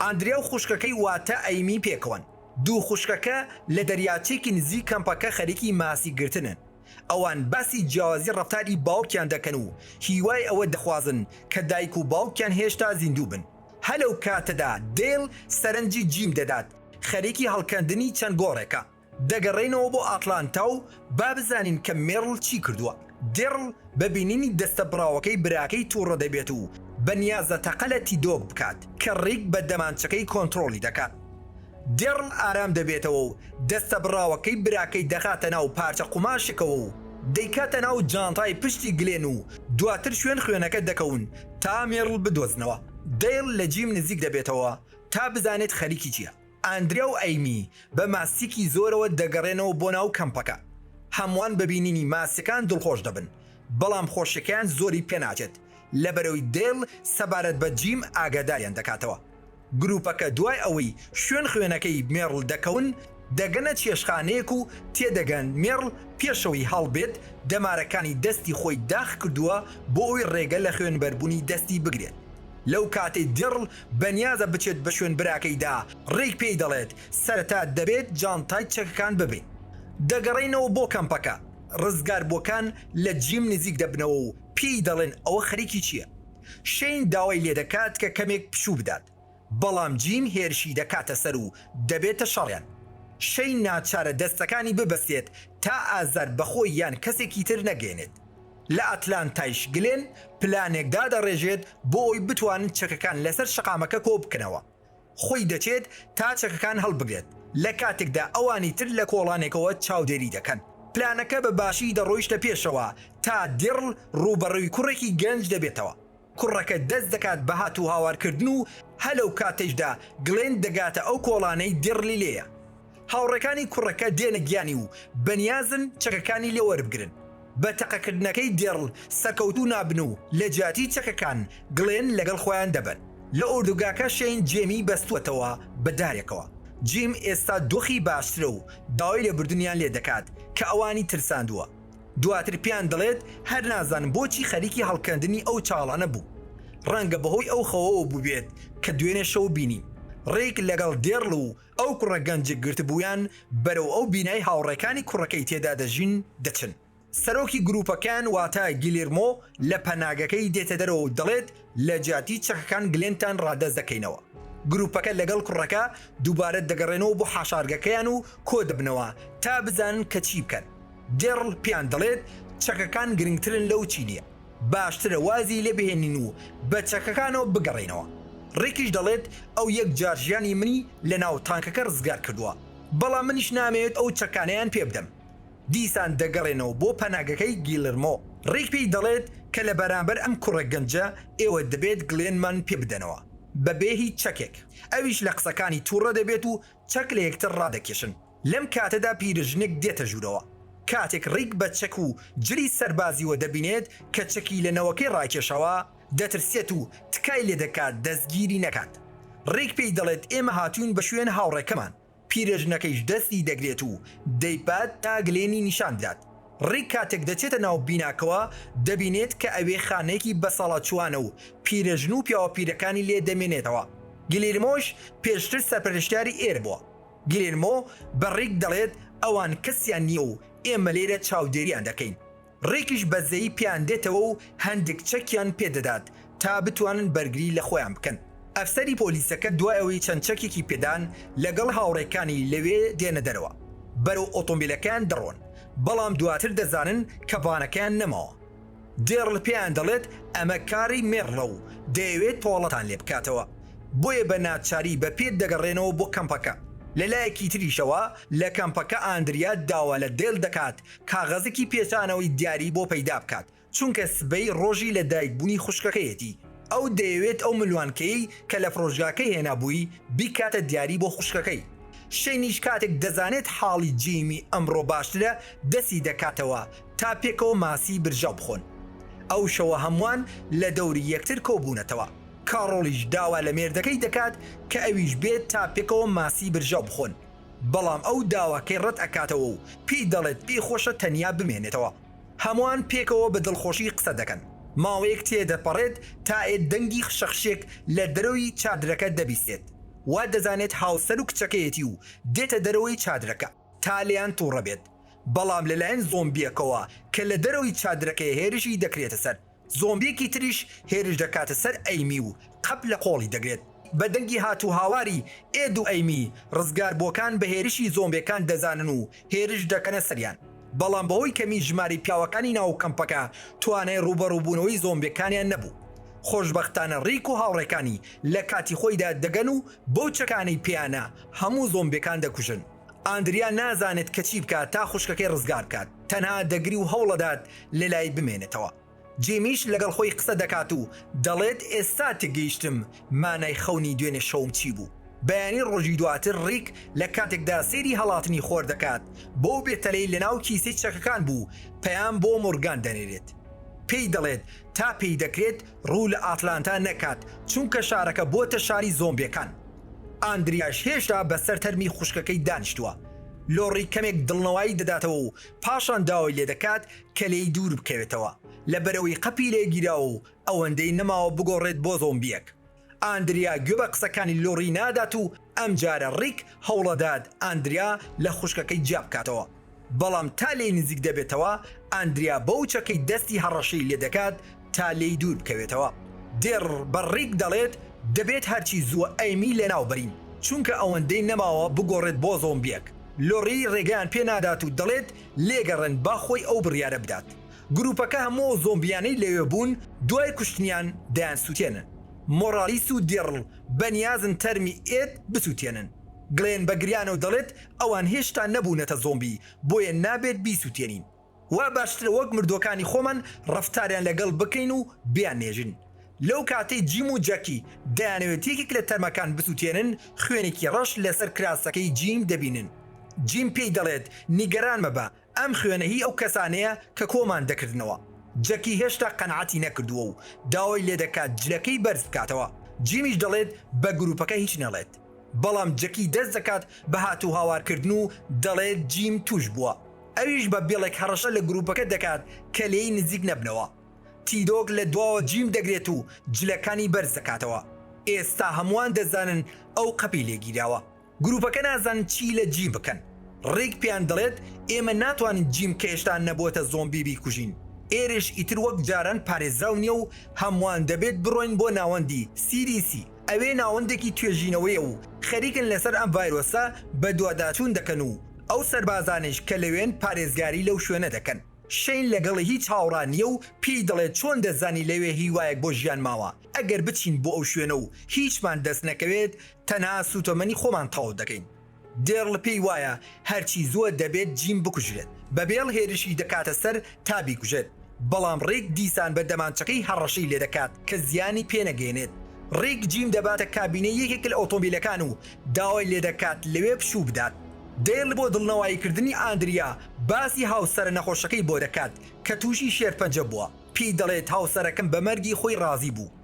ئاندریا و خوشکەکەی واتە ئەیمی پێکەوەن. دوو خوشکەکە لە دەریاچەیەکی نزیک کەمپەکە خەریکی ماسی گرتنن. ئەوان باسی جیاوازی ڕەفتاری باوکیان دەکەن و هیوای ئەوە دەخوازن کە دایک و باوکیان هێشتا زیندوو بن. هەلەو کاتەدا دەیڵ سەرنجی جیم دەدات، خەریکی هەڵکەندنی چەند گۆڕێکە. دەگەڕێینەوە بۆ ئاتلانتا و با بزانین کە مێرڵ چی کردووە. دێرڵ بە بینینی دەستە بڕاوەکەی براکەی توڕە دەبێت و بە نیازە تەقە لە تیدۆک بکات کە ڕیک بە دەمانچەکەی کۆنتڕۆڵی دەکات. دێرڵ ئارام دەبێتەوە و دەستە بڕاوەکەی براکەی دەخاتە ناو پارچە قوماشێکەوە و دەیکاتە ناو جانتای پشتی گلێن و دواتر شوێن خوێنەکە دەکەون تا مێرڵ بدۆزنەوە. دێرڵ لە جیم نزیک دەبێتەوە تا بزانێت خەریکی چییە. ئاندرێ و ئەیمی بە ماسیکی زۆرەوە دەگەڕێنەوە بۆ ناو کەمپەکە. هەمووان بە بینینی ماسیەکان دڵخۆش دەبن، بەڵام خۆشیەکەیان زۆری پێناچێت لەبەرەوەی دەیڵ سەبارەت بە جیم ئاگاداریان دەکاتەوە. گروپەکە دوای ئەوەی شوێن خوێنەکەی مێڕڵ دەکەون، دەگەنە چێشتخانەیەک و تێدەگەن مێڕڵ پێشەوەی هەڵبێت دەمارەکانی دەستی خۆی داخ کردووە بۆ ئەوەی ڕێگە لە خوێنبەربوونی دەستی بگرێت لەو کاتەی دێڕڵ بەنیازە بچێت بە شوێن براکەیدا، ڕیک پێی دەڵێت، سەرەتا دەبێت جانتای چەکەکان ببەین. دەگەڕێنەوە بۆ کەمپەکە، ڕزگاربووەکان لە جیم نزیک دەبنەوە و پێی دەڵێن ئەوە خەریکی چییە. شەین داوای لێدەکات کە کەمێک پشوو بدات، بەڵام جیم هێرشی دەکاتە سەر و دەبێتە شەڕیان. شەین ناچارە دەستەکانی ببەستێت تا ئازار بە خۆی یان کەسێکی تر نەگەیەنێت. لە ئەتلانتایش گلێن پلانێک دادەڕێژێت بۆ ئەوەی بتوانن چەکەکان لەسەر شەقامەکە کۆبکەنەوە، خۆی دەچێت تا چەکەکان هەڵبگرێت، لە کاتێکدا ئەوانی تر لە کۆڵانێکەوە چاودێری دەکەن. پلانەکە بە باشی دەڕۆیشتە پێشەوە تا دیڕل ڕووبەڕووی کوڕێکی گەنج دەبێتەوە. کوڕەکە دەست دەکات بە هاتوهاوارکردن و هە لەو کاتەیشدا گلێن دەگاتە ئەو کۆڵانەی دیڕلی لێیە. هاوڕێکانی کوڕەکە دێنە گیانی و بەنیازن چەکەکانی لێ وەربگرن. بە تەقەکردنەکەی دیڕل سەکەوتوو نابن و لە جیاتی چەکەکان گلێن لەگەڵ خۆیان دەبەن. لە ئۆردوگاکە شەین جێمی بەستووەتەوە بە دارێکەوە. جیم ئێستا دۆخی باشترە و داوای لێبوردنیان لێ دەکات کە ئەوانی ترساندووە. دواتر پێیان دەڵێت هەر نازانم بۆچی خەریکی هەڵکەندنی ئەو چاڵانە بوو، ڕەنگە بەهۆی ئەو خەوەوە بووبێت کە دوێنێ شەو بینی. ڕیک لەگەڵ دێرڵ و ئەو کوڕە گەنجە گرتبوویان بەرەو ئەو بینای هاوڕێکانی کوڕەکەی تێدا دەژین دەچن. سەرۆکی گرووپەکەیان واتە گیلیرمۆ لە پەناگەکەی دێتە دەرەوە و دەڵێت لە جیاتی چەکەکان گلێنتان ڕادەست دەکەینەوە. گروپەکە لەگەڵ کوڕەکە دووبارە دەگەڕێنەوە بۆ حاشارگەکەیان و کۆدەبنەوە تا بزانن کە چی بکەن. دێڕڵ پێیان دەڵێت چەکەکان گرنگترن لەو چیلیە. باشترە وازی لێ بهێنین و بە چەکەکانەوە بگەڕێینەوە. ڕیکیش دەڵێت ئەو یەک جار ژیانی منی لە ناو تانکەکە ڕزگار کردووە، بەڵام منیش نامەوێت ئەو چەکانەیان پێ بدەم. دیسان دەگەڕێنەوە بۆ پەناگەکەی گیلرمۆ، ڕیک پێی دەڵێت کە لە بەرامبەر ئەم کوڕە گەنجە ئێوە دەبێت گلێنمان پێ بدەنەوە بەبێ هیچ چەکێک، ئەویش لە قسەکانی توڕە دەبێت و چەک لە یەکتر ڕادەکێشن، لەم کاتەدا پیرژنێک دێتە ژوورەوە، کاتێک ڕیک بە چەک و جلی سەربازیوە دەبینێت کە چەکی لە نەوەکەی ڕاکێشاوە، دەترسێت و تکای لێدەکات دەستگیری نەکات، ڕیک پێی دەڵێت ئێمە هاتووین بە شوێن هاوڕێکەمان، پیرێژنەکەیش دەستی دەگرێت و دەیبات تا گلێنی نیشان بدات. ڕیک کاتێک دەچێتە ناو بیناکەوە، دەبینێت کە ئەوێ خانەیەکی بەساڵاچووانە و پیرێژن و پیاوە پیرەکانی لێ دەمێنێتەوە. گلیرمۆش پێشتر سەرپەرشتیاری ئێر بووە. گلیرمۆ بە ڕیک دەڵێت ئەوان کەسیان نییە و ئێمە لێرە چاودێرییان دەکەین. ڕێکیش بەزەیی پێیان دێتەوە و هەندێک چەکیان پێ دەدات تا بتوانن بەرگری لە خۆیان بکەن. ئەفسەری پۆلیسەکە دوای ئەوەی چەند چەکێکی پێدان لەگەڵ هاوڕێکانی لەوێ دێنە دەرەوە بەرەو ئۆتۆمبیلەکەیان دەڕۆن، بەڵام دواتر دەزانن کە بانەکەیان نەماوە. دێڕل پێیان دەڵێت ئەمە کاری مێڕلە و دەیەوێت تۆڵەتان لێ بکاتەوە، بۆیە بە ناچاری بە پێ دەگەڕێنەوە بۆ کەمپەکە. لە لایەکی تریشەوە لە کەمپەکە ئاندریا داوا لە دێل دەکات کاغەزەکی پێچانەوەی دیاری بۆ پەیدا بکات، چونکە سبەی ڕۆژی لە دایک بوونی خوشکەکەیەتی، ئەو دەیەوێت ئەو ملوانکەیەی کە لە فرۆشگاکەی هێنابووی بیکاتە دیاری بۆ خوشکەکەی، شەینیش کاتێک دەزانێت حاڵی جیمی ئەمڕۆ باشترە دەستی دەکاتەوە تا پێکەوە ماسی برژاو بخۆن، ئەو شەوە هەمووان لە دەوری یەکتر کۆبوونەتەوە، کاڕۆڵیش داوا لە مێردەکەی دەکات کە ئەویش بێت تا پێکەوە ماسی برژاو بخۆن. بەڵام ئەو داواکەی ڕەت ئەکاتەوە و پێی دەڵێت پێی خۆشە تەنیا بمێنێتەوە. هەمووان پێکەوە بە دڵخۆشی قسە دەکەن. ماوەیەک تێدەپەڕێت تا ئێد دەنگی خشەخشێک لە دەرەوەی چادرەکە دەبیستێت. وا دەزانێت هاوسەر و کچەکەیەتی و دێتە دەرەوەی چادرەکە تا لێیان توڕە بێت. بەڵام لەلایەن زۆمبیەکەوە کە لە دەرەوەی چادرەکەیە هێرشی دەکرێتە سەر. زۆمبیەکی تریش هێرش دەکاتە سەر ئەیمی و قەپ لە قۆڵی دەگرێت. بە دەنگی هاتوهاواری ئێد و ئەیمی، ڕزگاربووەکان بە هێرشی زۆمبێکان دەزانن و هێرش دەکەنە سەریان، بەڵام بەهۆی کەمی ژمارەی پیاوەکانی ناو کەمپەکە توانای ڕووبەڕووبوونەوەی زۆمبێکانیان نەبوو. خۆشبەختانە ڕیک و هاوڕێکانی لە کاتی خۆیدا دەگەن و بەو چەکانەی پێیانە هەموو زۆمبێکان دەکوژن. ئاندریا نازانێت کە چی بکات تا خوشکەکەی ڕزگار بکات، تەنها دەگری و هەوڵەدات لەلای بمێنێتەوە. جیمیش لەگەڵ خۆی قسە دەکات و دەڵێت ئێستا تێگەیشتم مانای خەونی دوێنێ شەوم چی بوو. بەیانی ڕۆژی دواتر ڕیک لە کاتێکدا سەیری هەڵاتنی خۆر دەکات بەو بێتەلەی لەناو کیسەی چەکەکان بوو پەیام بۆ مۆرگان دەنێرێت پێی دەڵێت تا پێی دەکرێت ڕوو لە ئاتلانتا نەکات چونکە شارەکە بۆتە شاری زۆمبێکان. ئاندریاش هێشتا بەسەر تەرمی خوشکەکەی دانیشتووە، لۆڕی کەمێک دڵنەوایی دەداتەوە و پاشان داوای لێدەکات کە لێی دووربکەوێتەوە، لەبەرئەوەی قەپی لێگیراوە و ئەوەندەی نەماوە بگۆڕێت بۆ زۆمبییەک. ئاندریا گوێ بە قسەکانی لۆڕی نادات و ئەمجارە ڕیک هەوڵدەدات ئاندریا لە خوشکەکەی جیابکاتەوە. بەڵام تا لێی نزیک دەبێتەوە، ئاندریا بەوچەکەی دەستی هەڕەشەی لێدەکات تا لێی دوور بکەوێتەوە. دێڕ بە ڕیک دەڵێت، دەبێت هەرچی زووە ئەیمی لەناوبەرین، چونکە ئەوەندەی نەماوە بگۆڕێت بۆ زۆمبیەک. لۆری ڕێگەیان پێ نادات و دەڵێت، لێگەڕێن با خۆی ئەو بڕیارە بدات. گروپەکە هەموو ئەو زۆمبیانەی لەوێ بوون دوای کوشتنیان دەیانسوتێنن. مۆڕالیس و دێڕڵ بەنیازن تەرمی ئێد بسوتێنن. گلێن بە گریانەوە دەڵێت، ئەوان هێشتا نەبوونەتە زۆمبی بۆیە نابێت بیسوتێنین وا باشترە وەک مردوەکانی خۆمان ڕەفتاریان لەگەڵ بکەین و بیاننێژین لەو کاتەی جیم و جەکی دەیانەوێت یەکێک لە تەرمەکان بسوتێنن خوێنێکی ڕەش لەسەر کراسەکەی جیم دەبینن جیم پێی دەڵێت نیگەران مەبە ئەم خوێنە هی ئەو کەسانەیە کە کۆمان دەکردنەوە. جەکی هێشتا قەناعەتی نەکردووە و داوای لێدەکات جلەکەی بەرز بکاتەوە. جیمیش دەڵێت بە گروپەکە هیچ نەڵێت. بەڵام جەکی دەست دەکات بە هاتوهاوارکردن و دەڵێت جیم تووشبووە. ئەویش بە بێڵێک هەڕەشە لە گروپەکە دەکات کە لێی نزیک نەبنەوە. تیدۆک لە دواوە جیم دەگرێت و جلەکانی بەرز دەکاتەوە. ئێستا هەمووان دەزانن ئەو قەپی لێگیراوە. گروپەکە نازانن چی لە جی بکەن ڕیک پێیان دەڵێت ئێمە ناتوانین جیم کە هێشتا نەبۆتە زۆمبی بیکوژین ئێرش ئیتر وەک جاران پارێزراو نیە و هەموان دەبێت بڕۆین بۆ ناوەندی سی دی سی ئەوێ ناوەندێکی توێژینەوەیە و خەریکن لەسەر ئەم ڤایرۆسە بەدواداچون دەکەن و ئەو سەربازانەیش کە لەوێن پارێزگاری لەو شوێنە دەکەن شەین لەگەڵی هیچ هاوڕا نیە و پێی دەڵێت چۆن دەزانی لەوێ هیوایەک بۆ ژیان ماوە ئەگەر بچین بۆ ئەو شوێنە و هیچمان دەست نەکەوێت تەنها سوتەمەنی خۆمان تەواو دەکەین. دێرل پێی وایە هەرچی زووە دەبێت جیم بکوژرێت. بە بێڵ هێرشی دەکاتە سەر تا بیکوژێت، بەڵام ڕیک دیسان بە دەمانچەکەی هەڕەشەی لێدەکات کە زیانی پێنەگەیەنێت. ڕیک جیم دەباتە کابینەی یەکێک لە ئۆتۆمبیلەکان و داوای لێدەکات لەوێ پشوو بدات. دێرل بۆ دڵنەواییکردنی ئاندریا باسی هاوسەرە نەخۆشەکەی بۆ دەکات کە تووشی شێرپەنجە بووە. پێی دەڵێت هاوسەرەکەم بە مەرگی خۆی ڕازی بوو،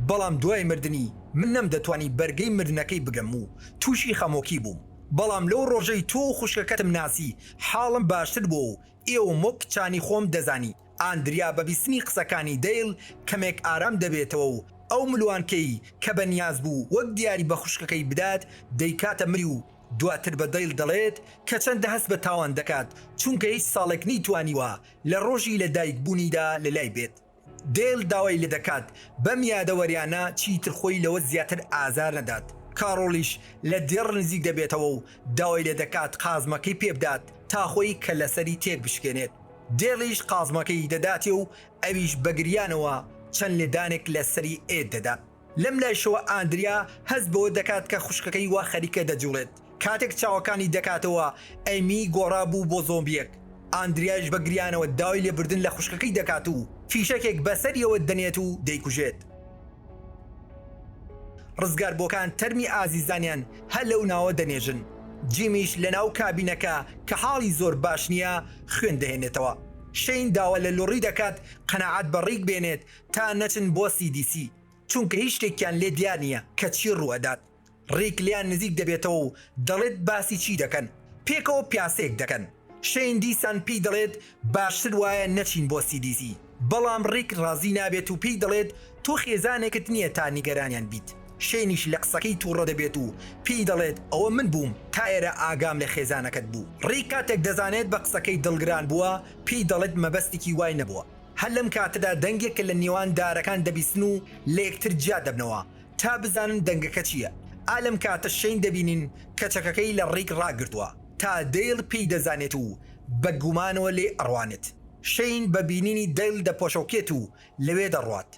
بەڵام دوای مردنی من نەمدەتوانی بەرگەی مردنەکەی بگرم و تووشی خەمۆکی بووم، بەڵام لەو ڕۆژەی تۆ و خوشکەکەتم ناسی حاڵم باشتر بووە و ئێوەم وەک کچانی خۆم دەزانی، ئاندریا بە بیستنی قسەکانی دەیڵ کەمێک ئارام دەبێتەوە و ئەو ملوانکەی کە بە نیاز بوو وەک دیاری بە خوشکەکەی بدات دەیکاتە ملی و دواتر بە دەیڵ دەڵێت کە چەندە هەست بە تاوان دەکات چونکە هیچ ساڵێک نەیتوانیوە لە ڕۆژی لە دایک بوونیدا لە لای بێت. دەیل داوای لێ دەکات بەم یادەوەریانە چیتر خۆی لەوە زیاتر ئازار نەدات. کاڕۆڵیش لە دێڕ نزیک دەبێتەوە و داوای لێ دەکات قازمەکەی پێ بدات تا خۆی کە لە سەری تێک بشکێنێت. دێڵیش قازمەکەی دەداتێ و ئەویش بە گریانەوە چەند لێدانێک لە سەری ئێد دەدات. لەم لایشەوە ئاندریا هەست بەوە دەکات کە خوشکەکەی وا خەریکە دەجوڵێت، کاتێک چاوەکانی دەکاتەوە ئەیمی گۆڕا بوو بۆ زۆمبیەک، ئاندریایش بە گریانەوە داوای لێبردن لە خوشکەکەی دەکات و فیشەکێک بەسەریەوە دەنێت و دەیکوژێت. ڕزگاربووەکان تەرمی ئازیزانیان هەر لەو ناوە دەنێژن، جیمیش لەناو کابینەکە کە حاڵی زۆر باش نییە خوێن دەهێنێتەوە، شەین داوا لە لۆڕی دەکات قەناعەت بە ڕیک بێنێت تا نەچن بۆ سی دی سی چونکە هیچ شتێکیان لێ دیار نیە کە چی ڕوو ئەدات ڕیک لێیان نزیک دەبێتەوە و دەڵێت باسی چی دەکەن پێکەوە پیاسەیەک دەکەن شەین دیسان پێی دەڵێت باشتر وایە نەچین بۆ سی دی سی بەڵام ڕیک ڕازی نابێت و پێی دەڵێت تۆ خێزانێکت نیە تا نیگەرانیان بیت شەینیش لە قسەکەی توڕە دەبێت و پێی دەڵێت ئەوە من بووم تا ئێرە ئاگام لە خێزانەکەت بوو ڕیک کاتێک دەزانێت بە قسەکەی دڵگران بووە پێی دەڵێت مەبەستێکی وای نەبووە. هەر لەم کاتەدا دەنگێک کە لە نێوان دارەکان دەبیستن و لە یەکتر جیا دەبنەوە تا بزانن دەنگەکە چییە، ئا لەم کاتە شەین دەبینین کە چەکەکەی لە ڕیک ڕاگرتووە، تا دەیڵ پێی دەزانێت و بە گومانەوە لێی ئەڕوانێت. شەین بە بینینی دەیڵ دەپۆشۆکێت و لەوێ دەڕوات.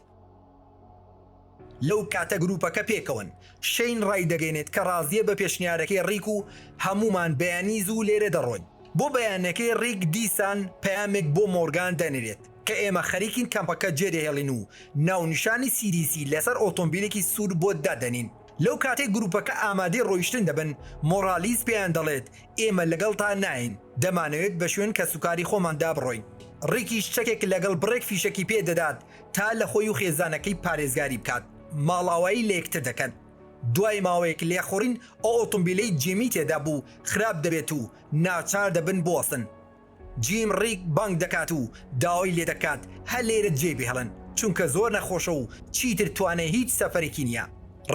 لەو کاتە گروپەکە پێکەوەن. شەین ڕایدەگەیەنێت کە ڕازییە بە پێشنیارەکەی ڕیک و هەموومان بەیانی زوو لێرە دەڕۆین. بۆ بەیانەکەی ڕیک دیسان پەیامێک بۆ مۆرگان دەنێرێت کە ئێمە خەریکین کەمپەکە جێدەهێڵین و ناونیشانی سیریسی لەسەر ئۆتۆمبیلێکی سوور بۆت دادەنین. لەو کاتەی گروپەکە ئامادەی ڕۆیشتن دەبن، مۆڕالیس پێیان دەڵێت، ئێمە لەگەڵتان ناین، دەمانەوێت بە شوێن کەسوکاری خۆماندا بڕۆین. ڕیکیش چەکێک لەگەڵ بڕێک فیشەکی پێ دەدات تا لە خۆی و خێزانەکەی پارێزگاری بکات، ماڵئاوایی لە یەکتر دەکەن. دوای ماوەیەک لێخوڕین، ئەو ئۆتۆمبیلەی جیمی تێدا بوو خراپ دەبێت و ناچار دەبن بوەستن. جیم ڕیک بانگ دەکات و داوای لێدەکات هەر لێرە جێی بهێڵن، چونکە زۆر نەخۆشە و چیتر توانای هیچ سەفەرێکی نییە.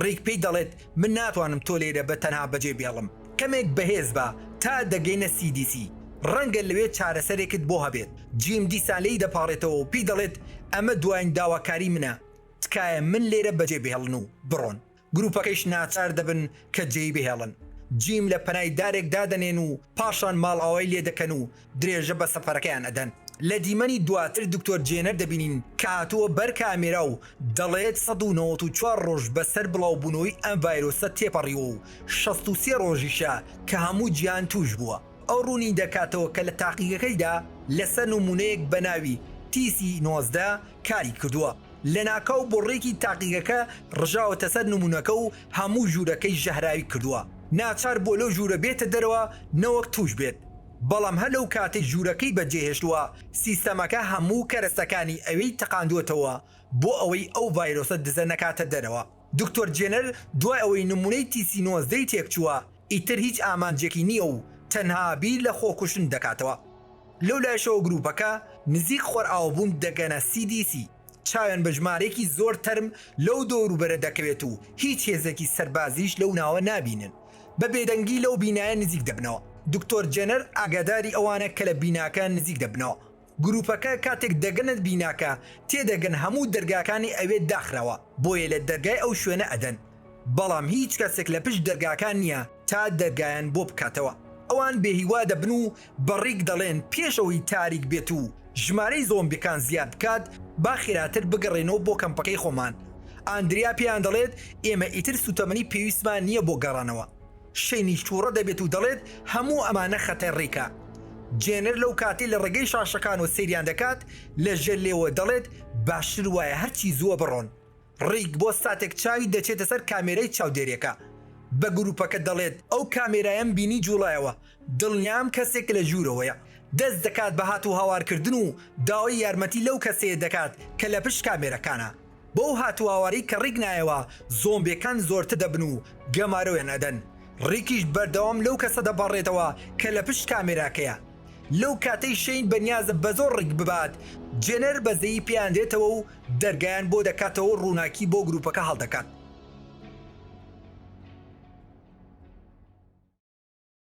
ڕیک پێی دەڵێت، من ناتوانم تۆ لێرە بە تەنها بەجێبهێڵم. کەمێک بەهێز بە تا دەگەینە سی دی سی، ڕەنگە لەوێ چارەسەرێکت بۆ هەبێت. جیم دیسان لێی دەپاڕێتەوە و پێی دەڵێت، ئەمە دوایین داواکاری منە، تکایە من لێرە بەجێ بهێڵن و بڕۆن. گروپەکەیش ناچار دەبن کە جێی بهێڵن. جیم لە پەنای دارێک دادەنێن و پاشان ماڵئاوای لێ دەکەن و درێژە بە سەفەرەکەیان ئەدەن. لە دیمەنی دواتر دکتۆر جێنەر دەبینین کە هاتووە بەر کامێرا و دەڵێت سەد و نەوەت و چوار ڕۆژ بەسەر بڵاوبوونەوەی ئەم ڤایرۆسە تێپەڕیوە و شەست و سێ ڕۆژیشە کە هەموو جیهان تووش بووە. ئەو ڕوونی دەکاتەوە کە لە تاقیگەکەیدا لەسەر نموونەیەک بە ناوی تیسی نۆزدە کاری کردووە. لەناکاو بۆڕێکی تاقیگەکە ڕژاوەتە سەر نموونەکە و هەموو ژوورەکەی ژەهراوی کردووە. ناچار بووە لەو ژوورە بێتە دەرەوە نەوەک تووش بێت. بەڵام هەر لەو کاتەی ژوورەکەی بەجێهێشتووە، سیستەمەکە هەموو کەرەسەکانی ئەوێی تەقاندووەتەوە بۆ ئەوەی ئەو ڤایرۆسە دزە نەکاتە دەرەوە. دکتۆر جێنەر دوای ئەوەی نموونەی تیسی نۆزدەی تێکچووە، ئیتر هیچ ئامانجێکی نییە و تەنها بیر لە خۆکوشتن دەکاتەوە. لەو لایشەوە گرووپەکە نزیک خۆرئاوابوون دەگەنە CDC. چاویان بە ژمارەیەکی زۆر تەرم لەو دەوروبەرە دەکەوێت و هیچ هێزێکی سەربازیش لەو ناوە نابینن. بە بێدەنگی لەو بینایە نزیک دەبنەوە. دکتۆر جێنەر ئاگاداری ئەوانە کە لە بیناکە نزیک دەبنەوە. گروپەکە کاتێک دەگەنە بیناکە تێدەگەن هەموو دەرگاکانی ئەوێ داخراوە بۆیە لە دەرگای ئەو شوێنە ئەدەن. بەڵام هیچ کەسێک لە پشت دەرگاکان نییە تا دەرگایان بۆ بکاتەوە، ئەوان بێهیوا دەبن و بە ڕیک دەڵێن پێش ئەوەی تاریک بێت و ژمارەی زۆمبیەکان زیاد بکات با خێراتر بگەڕێینەوە بۆ کەمپەکەی خۆمان، ئاندریا پێیان دەڵێت ئێمە ئیتر سوتەمەنی پێویستمان نییە بۆ گەڕانەوە، شەینیش توڕە دەبێت و دەڵێت هەموو ئەمانە خەتەر ڕیکە. جێنەر لەو کاتەی لە ڕێگەی شاشەکانەوە سەیریان دەکات لە ژێر لێوە دەڵێت باشتر وایە هەرچی زووە بڕۆن. ڕیک بۆ ساتێک چاوی دەچێتە سەر کامێرای چاودێریەکە بە گروپەکە دەڵێت، ئەو کامێرایەم بینی جوڵایەوە دڵنیام کەسێک لە ژورەوەیە، دەست دەکات بە هاتوو هاوارکردن و داوای یارمەتی لەو کەسەیە دەکات کە لە پشت کامێرەکانە، بەو هاتوو هاوارەی کە ڕیک نایەوە زۆمبێکان زۆرتر دەبن و گەمارۆیان ئەدەن، ڕیکیش بەردەوام لەو کەسە دەپەڕێتەوە کە لە پشت کامێراکەیە، لەو کاتەی شەین بەنیازە بەزۆر ڕیک ببات جێنەر بەزەیی پێیان دێتەوە و دەرگایان بۆ دەکاتەوە و ڕووناکی بۆ گرووپەکە هەڵدەکات.